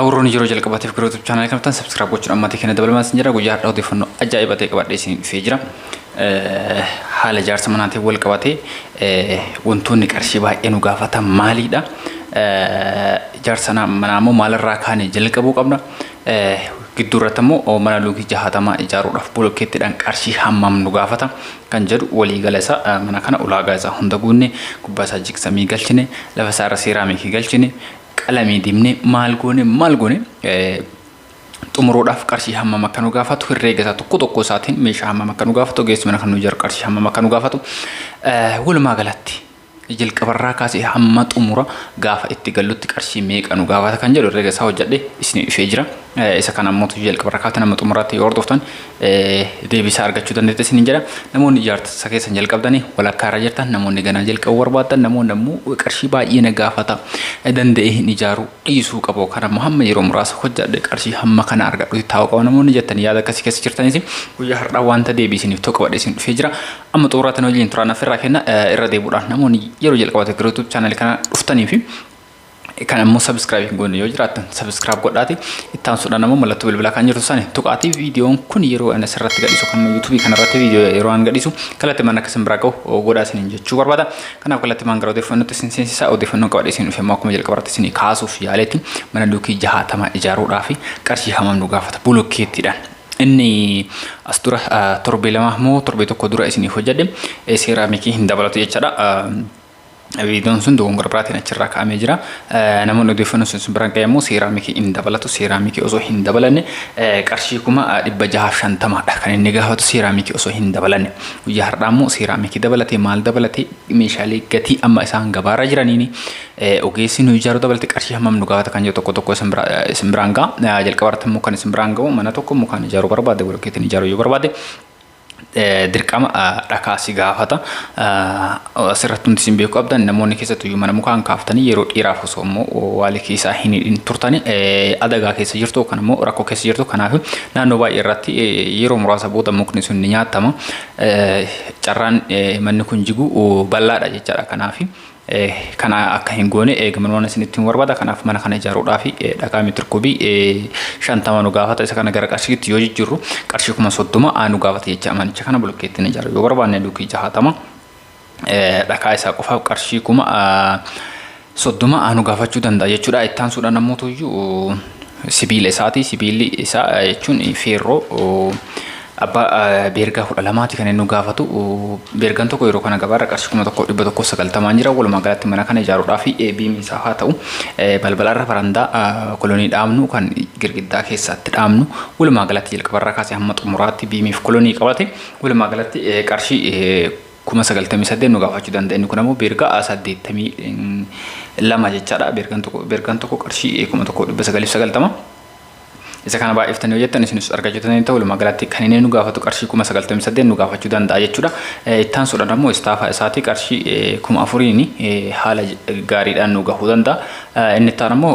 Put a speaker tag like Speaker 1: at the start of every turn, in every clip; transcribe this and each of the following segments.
Speaker 1: Awurroon yeroo jalqabaatiif gara YouTube chaanaalii kana dhuftan subscribe gochuun ammaatii keenya dabalamaa isin jira guyyaa har'aa odeeffannoo ajaa'iba ta'e qabadhee isin dhufee jira. Haala ijaarsa manaatiin wal qabatee wantoonni qarshii baay'ee nu gaafatan maaliidha? Ijaarsa manaa immoo maalirraa kaanee jalqabuu qabna? Gidduu irratti immoo mana luukii jahaatamaa ijaaruudhaaf bolokkeettiidhaan qarshii hammam nu gaafata kan jedhu waliigala isaa mana kana ulaagaa isaa hunda guunne gubbaa isaa jigsamii galchine lafa isaa irra seeraamikii galchine qalamii dibnee maal goone maal goone xumuruudhaaf qarshii hammam akka nu gaafatu herreega isaa tokko tokko isaatiin meeshaa hammam akka nu gaafatu ogeessi mana kan nu ijaaru qarshii hammam akka nu gaafatu walumaa galatti jalqabarraa kaasee hamma xumura gaafa itti gallutti qarshii meeqa nu gaafata kan jedhu herreega isaa hojjedhee isinii dhufee jira. Isa kana immoo tuju jalqaba irraa kaatan amma xumuraatti yoo hordoftan deebii isaa argachuu dandeetti isiniin jedha. Namoonni ijaarsa keessan jalqabdanii walakkaa irra jirtan namoonni ganaa jalqabu barbaaddan namoonni ammoo qarshii baay'ee na gaafata danda'ee hin ijaaru dhiisuu qabu kan ammoo hamma yeroo muraasa hojjadhe qarshii hamma kana argadhutti taa'uu qaba namoonni jettan yaada akkasii keessa jirtanis guyyaa har'aa wanta deebii isiniif tokko badhe isin dhufee jira amma xumuraatti wajjin turaan affeerraa kenna irra deebuudhaan namoonni yeroo jalqabate gara YouTube channel kana dhuftanii fi Kan ammoo subscribe hin goone yoo jiraattan subscribe godhaati. Itti aansuudhaan ammoo mallattoo bilbilaa kan jirtu sani tuqaatii viidiyoon kun yeroo ani asirratti gadhiisu kan YouTube kanarratti viidiyoo yeroo an gadhiisu kallattimaan akka isin biraa ga'u godhaa isiniin jechuu barbaada. Kanaaf kallattimaan gara odeeffannootti isin seensisaa odeeffannoon qabadhee isin dhufe immoo akkuma jalqabarratti isin kaasuuf yaaletti mana duukii jahaatamaa ijaaruudhaa fi qarshii hammam nu gaafata bulokkeettiidhaan. Inni as dura torbee lama moo torbee tokko dura isinii hojjedhe seeraamikii hin dabalatu jechaadha. Viidiyoon sun dogongora biraatiin achirraa kaa'amee jira. Namoonni odeeffannoo sun sun biraan qayyammoo seeraamikii hin dabalatu. Seeraamikii osoo hin dabalanne qarshii kuma dhibba jahaaf shantamaadha kan inni gaafatu seeraamikii osoo hin dabalanne. Guyyaa har'aa immoo seeraamikii dabalatee maal dabalatee meeshaalee gatii amma isaan gabaarra jiraniin ogeessi nu ijaaru dabalatee qarshii hammam nu gaafata kan jedhu tokko tokko isin biraan ga'a. Jalqaba irratti immoo kan isin biraan ga'u mana tokko mukaan ijaaruu barbaade, bolokeetiin ijaaruu yoo barbaade dirqama dhakaa si gaafata. Asirratti hundi isin beeku qabdan namoonni keessattuu iyyuu mana mukaan kaaftanii yeroo dheeraaf osoo immoo waali keessaa hin hidhin turtani adagaa keessa jirtu yookaan immoo rakkoo keessa jirtu kanaaf naannoo baay'ee irratti yeroo muraasa booda mukni sun ni nyaatama. Carraan manni kun jigu bal'aadha jechaadha kanaaf. Kana akka hin goone eegaman waan isinitti himu barbaada. Kanaaf mana kana ijaaruudhaaf dhagaa meetir kubii shantama nu gaafata. Isa kana gara qarshiitti yoo jijjiirru qarshii kuma soddoma nu gaafata jecha manicha kana bulokkeettiin ijaaru yoo barbaanne luukii jahaatama dhagaa isaa qofaaf qarshii kuma soddoma nu gaafachuu danda'a jechuudha. Itti aansuudhaan ammoo tuyyuu sibiila isaati. Sibiilli isaa jechuun feerroo abbaa beergaa kudha lamaati kan inni gaafatu. Beergaan tokko yeroo kana gabaarra qarshii kuma tokko dhibba tokko sagaltamaan jira. Walumaa galatti mana kana ijaaruudhaaf biimni isaa haa ta'u balbalarra farandaa kolonii dhaabnu kan girgiddaa keessaatti dhaabnu walumaa galatti jalqabarraa kaasee hamma xumuraatti biimiif kolonii qabate walumaa galatti qarshii kuma 98 nu gaafachuu danda'a inni kun ammoo beerga a 82 jechaadha beergan tokko beergan tokko qarshii 1990 isa kana baay'iftanii hojjettan isinis argachuu dandeettan walumaa galatti kan inni nu gaafatu qarshii 98 nu gaafachuu danda'a jechuudha ittaan sudhan ammoo istaafaa isaatii qarshii 4000 haala gaariidhaan nu gahuu danda'a inni ittaan ammoo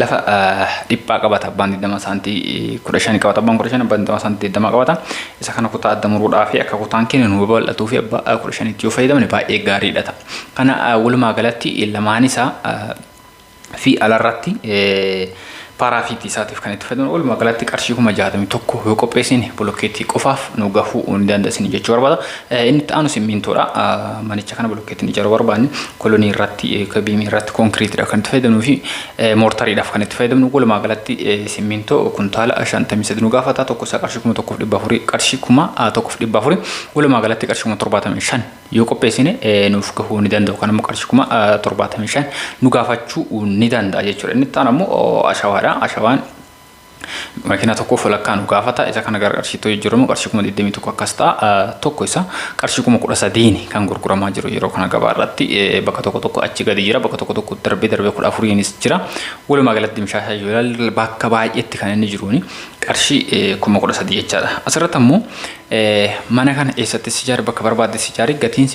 Speaker 1: lafa dhiphaa qabata abbaan 20 saantii 15 qabata abbaan 15 abbaan 20 saantii 20 qabata isa kana kutaa adda muruudhaa fi akka kutaan keenya nu babal'atuu fi abbaa 15 itti yoo fayyadamne baay'ee gaariidha ta'a kana walumaa galatti lamaan isaa fi alarratti paaraafiitii isaatiif kan itti fayyadamu walumaa galatti qarshii kuma 61 yoo qopheessine bolokkeetii qofaaf nu gahuu ni dandeessine jechuu barbaada Inni itti aanu simmiintoodha. Manicha kana bulokkeetiin ijaaruu barbaanne kolonii irratti yookaan biimii irratti konkiriitiidha kan itti fayyadamnuu fi moortariidhaaf kan itti fayyadamnu walumaa galatti simmiintoo kuntaala 53 nu gaafata tokko isaa qarshii 1400 qarshii 1400 walumaa galatti qarshii 75 yoo qopheessine nuuf gahuu ni danda'u kan immoo qarshii 75 nu gaafachuu ni danda'a jechuudha. Inni itti aanu ammoo ashawaadha. Ashawaan Makiinaa tokkoof walakkaa nu gaafata. Isa kana gara qarshiitti jijjiiramu qarshii kuma 21 akkas ta'a. Tokko isa qarshii kuma 13 kan gurguramaa jiru yeroo kana gabaa irratti bakka tokko tokko achi gadi jira. Bakka tokko tokko darbee darbee 14nis jira. Walumaa galatti mishaashaa yoo ilaalle bakka baay'eetti kan inni jiruuni qarshii kuma 13 jechaadha. Asirratti ammoo mana kana eessatti sijaari bakka barbaadde sijaari gatiin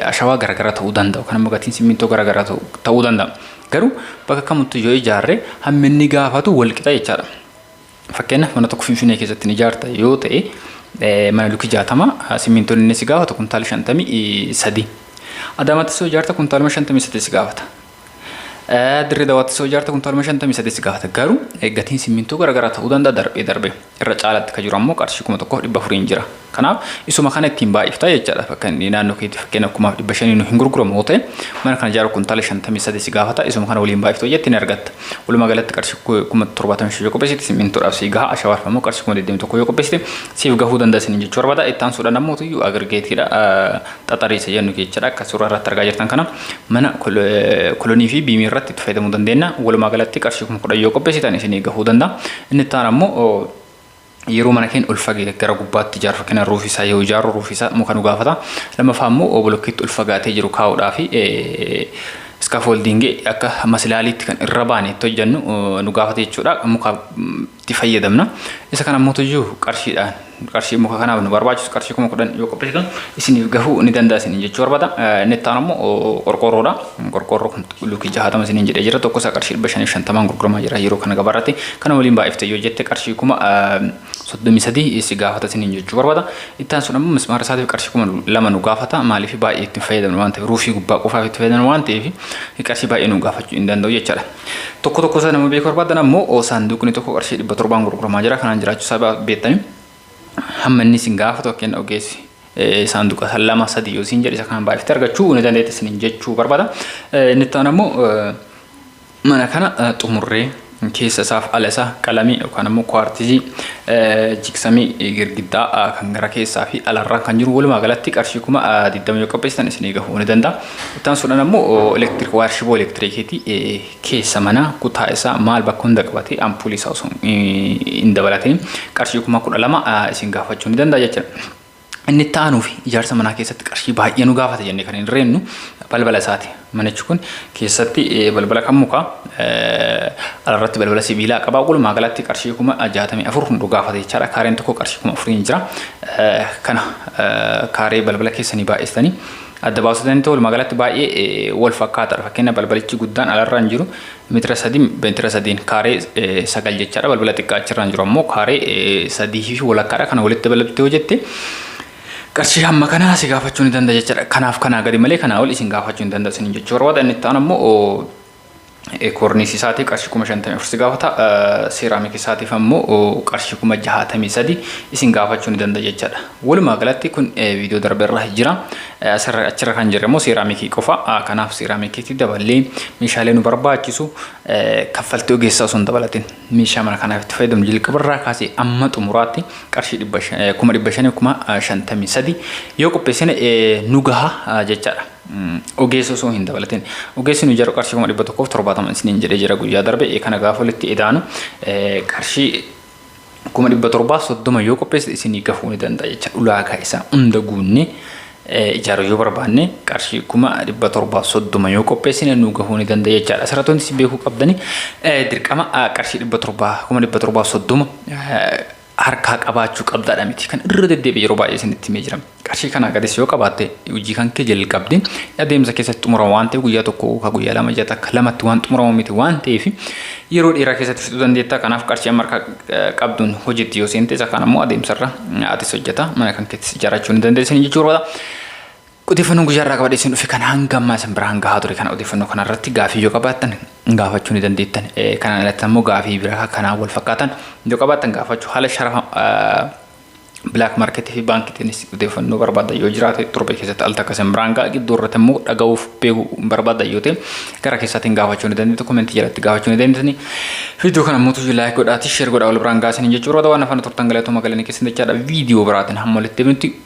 Speaker 1: ashawaa garaagaraa ta'uu danda'a. Kan ammoo gatiin simmintoo garaagaraa ta'uu danda'a. Garuu bakka kamittuu yoo ijaarre hammi inni gaafatu wal qixa jechaadha. Fakkeenyaaf mana tokko Finfinnee keessatti ni ijaarta yoo ta'e mana lukii jaatama simmintoon inni si gaafatu kuntaala shantamii sadii. Adaamaatti soo ijaarta kuntaaluma shantamii sadii si gaafata. Dirree dawaatti soo ijaarta kuntaaluma shantamii sadii si gaafata. Garuu gatiin simmintoo garaagaraa ta'uu danda'a darbee darbee. irra caalatti ka jiru ammoo qarshii 1400n jira. Kanaaf isuma kana ittiin baay'ifta jechaadha. Fakkan naannoo keetti fakkeenyaaf 500,000 nu hin gurguramu yoo ta'e mana kana ijaaru kuntaala 53 si gaafata. Isuma kana waliin baay'ifta hojjette ni argatta. Walumaa galatti qarshii 75,000 yoo qopheessite simmintoodhaaf si gaha. Ashawaarfa ammoo qarshii 21,000 yoo qopheessite siif gahuu danda'a isiniin jechuu barbaada. Itti aansuudhaan ammoo tuyyu agirgeetiidha. xaxarii isa jennu jechuudha. Akka suuraa irratti argaa jirtan kana mana kolonii fi biimii irratti itti fayyadamuu dandeenya. Walumaa galatti qarshii kuma kudhan yoo qopheessitan isinii gahuu danda'a. Inni itti aanu ammoo yeroo mana keenya ol fagee gara gubbaatti ijaarru fakkina ruufii isaa yoo ijaarru ruufii isaa muka nu gaafata. Lammaffaa ammoo bolokkeetti ol fagaatee jiru kaa'uudhaa fi iskaafooldiingii akka masilaaliitti kan irra baane itti hojjennu nu gaafata jechuudha. Muka itti fayyadamna. Isa kana mootu iyyuu qarshiidhaan qarshii muka kanaaf nu barbaachisu qarshii kuma kudhan yoo qopheessitan isiniif gahuu ni danda'a isiniin jechuu barbaada. Inni itti aanu immoo qorqoorroodha. Qorqoorroo kun luukii jahatama isiniin jedhee jira. Tokko isaa qarshii dhibba shaniif shantamaan gurguramaa jira yeroo kana gabaa irratti. Kana waliin baay'ifte yoo jette qarshii kuma soddomii sadii si gaafata isiniin jechuu barbaada. Itti aansuun immoo mismaara isaatiif qarshii kuma lama nu gaafata. Maaliif baay'ee itti hin fayyadamnu waan ta'eef ruufii gubbaa qofaaf itti fayyadamnu waan ta'eef qarshii baay'ee nu gaafachuu hin danda'u jechaadha. Tokko tokko isaa nama beekuu barbaadan ammoo saanduuqni tokko qarshii dhibba torbaan gurguramaa jira kanaan jiraachuu isaa beektanii hamma inni isin gaafatu akka inni ogeessi saanduqa isa lama sadii yoo isin jedhe isa kana baay'iftee argachuu ni dandeetti isin jechuu barbaada. Inni itti aanu ammoo mana kana xumurree keessa isaaf ala isaa qalamii yookaan ammoo kuwaartizii jigsamii girgiddaa kan gara keessaa fi alarraan kan jiru walumaa galatti qarshii kuma 20 yoo qopheessitan isinii gahuu ni danda'a. Ittaansuudhaan ammoo elektiriik waayar shiboo elektiriikiiti keessa manaa kutaa isaa maal bakka hunda qabatee ampuulii isaa osoo hin dabalatee qarshii kuma kudha lama isin gaafachuu ni danda'a jechuudha. Inni itti aanuu fi ijaarsa manaa keessatti qarshii baay'ee nu gaafata jennee kan hin reennu balbala isaati. Manichi kun keessatti balbala kan mukaa alarratti balbala sibiilaa qaba. Walumaa galatti qarshii kuma jaatamii afur nu gaafata jechaadha. Kaareen tokko qarshii kuma afuriin jira. Kana kaaree balbala keessanii baay'istanii adda baasuu danda'u walumaa galatti baay'ee wal fakkaataadha. Fakkeenya balbalichi guddaan alarra hin jiru meetira sadiin meetira sadiin kaaree sagal jechaadha. Balbala xiqqaa achirra hin jiru ammoo kaaree sadii fi walakkaadha. Kana walitti dabalatti yoo jette qarshii hamma kanaa si gaafachuu ni danda'a jechaadha. Kanaaf kanaa gadi malee kanaa ol isin gaafachuu ni danda'a isin jechuu barbaada. Inni itti aanu ammoo Koorniisii isaatii qarshii kuma shantamii afur si gaafata. Seeraamikii isaatiif ammoo qarshii kuma jahaatamii sadi isin gaafachuu ni danda'a jechaadha. Walumaa galatti kun viidiyoo darbe irra jira. Asirra achirra kan jirre immoo seeraamikii qofa. Kanaaf seeraamikiitti daballee meeshaalee nu barbaachisu kaffaltii ogeessaa osoo hin dabalatin meeshaa mana kanaaf itti fayyadamu jalqaba irraa kaasee amma xumuraatti qarshii dhibba shan- kuma dhibba shanii kuma shantamii sadi yoo qopheessine nu gaha jechaadha. Ogeessa osoo hin dabalatin. Ogeessi nu jaru qarshii kuma dhibba tokkoof torbaatama isiniin jedhee jira guyyaa darbe ee kana gaafa walitti edaanu qarshii kuma dhibba torbaaf soddoma yoo qopheesse isinii gahuu ni danda'a jecha ulaagaa isaa hunda guunne ijaaruu yoo barbaanne qarshii kuma dhibba torbaaf soddoma yoo qopheessine nu gahuu ni danda'a jechaadha. Asirratti wanti isin beekuu qabdani dirqama qarshii dhibba torbaa kuma dhibba torbaaf soddoma harkaa qabaachuu qabdaadha miti kan irra deddeebi'e yeroo baay'ee isinitti himee jira qarshii kanaa gadis yoo qabaatte hojii kan kee jalqabde adeemsa keessatti xumurama waan ta'eef guyyaa tokko yookaan guyyaa lama ja'a takka lamatti waan xumuramu miti waan ta'eef yeroo dheeraa keessatti fixuu dandeetta kanaaf qarshii amma harkaa eh, qabduun hojiitti yoo seente isa kaan ammoo adeemsarra atis hojjeta mana kan keettis ijaarrachuu ni dandeessanii jechuudha. Odeeffannoon guyyaa irraa qabadhee isin dhufe kan hanga ammaa isin biraan gahaa ture kana odeeffannoo kana irratti gaafii yoo qabaattan gaafachuu ni dandeettan. Kanaan alatti ammoo gaafii biraa kanaan wal fakkaatan yoo qabaattan gaafachuu haala sharafa bilaak maarkeetii fi baankiitiinis odeeffannoo barbaadan yoo jiraate torbee keessatti al takka isin biraan ga'a gidduu irratti immoo dhaga'uuf beeku barbaadan yoo ta'e gara keessaatiin gaafachuu ni dandeettu komentii jalatti gaafachuu ni dandeettani viidiyoo kana immoo tuyyuu laayik godhaatii sheer godhaa wal biraan gaasanii jechuudha waan afaan turtan galatooma galanii keessan jechaadha viidiyoo biraatiin hamma walitti deebinutti